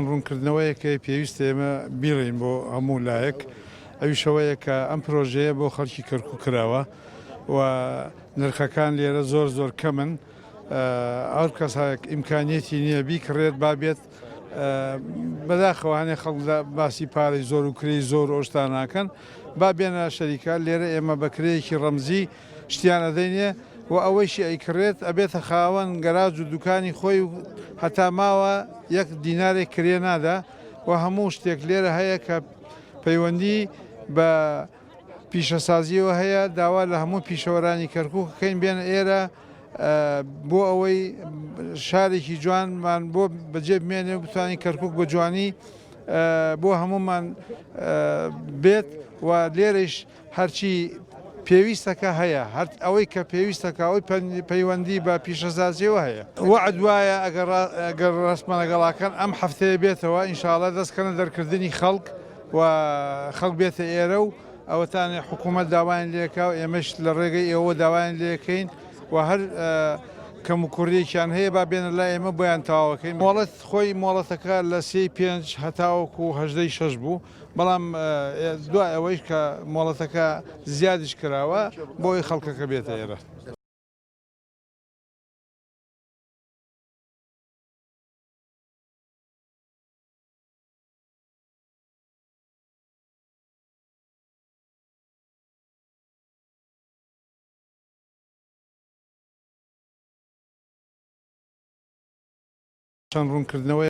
ڕوونکردنەوەیەک هەیە پێویستە ئێمە بیڵێین بۆ هەموو لایەک، ئەویش ئەوەیە کە ئەم پرۆژەیە بۆ خەڵکی کەرکووک کراوە و نرخەکان لێرە زۆر زۆر کەمن، هەر کەس ئیمکانیەتی نییە بیکڕێت با بێت، بەداخەوە هەنێ خەڵک لە باسی پارەی زۆر و کرێی زۆر و ئەو شتانە ناکەن، با بێنە شەریکە، لێرە ئێمە بە کرێیەکی ڕەمزی، شتیان ئەدەینێ و ئەوەیشی ئەیکڕێت ئەبێتە خاوەن گەراج و دوکانی خۆی و هەتا ماوە یەک دینارێک کرێ نادا و هەموو شتێک لێرە هەیە کە پەیوەندی بە پیشەسازیەوە هەیە داوا لە هەموو پیشەوەرانی کەرکوک کەین بێنە ئێرە بۆ ئەوەی شارێکی جوانمان بۆ بەجێ بمێنێ بتوانین کەرکک بە جوانی بۆ هەمومان بێت و لێرەش هەرچی پێویستەکە هەیە، هەر ئەوەی کە پێویستەکە ئەوەی پەیوەندی بە پیشەسازییەوە هەیە. وەعد وایە ئەگەر ڕەسمەنەگەڵاکان ئەم هەفتەیە بێتەوە ئینشاڵا دەست کەنە دەرکردنی خەڵک و خەڵک بێتە ئێرە و ئەوەتانێ حکوومەت داوایان لێکا و ئێمەش لە ڕێگەی ئێوە داوایان لێکەین و هەر کەموکوڕیەکیان هەیە با بێنە لای ئێمە بۆیان تەواوەکەین. مۆڵەت خۆی مۆڵەتەکە لە سێی پێنج هەتاوەکوو هەژدەی شەش بوو. بەڵام دوای ئەوەیش کە مۆڵەتەکە زیادیش کراوە بۆ ئەوەی خەڵکەکە بێتە ئێرە. چەند ڕوونکردنەوەیەک.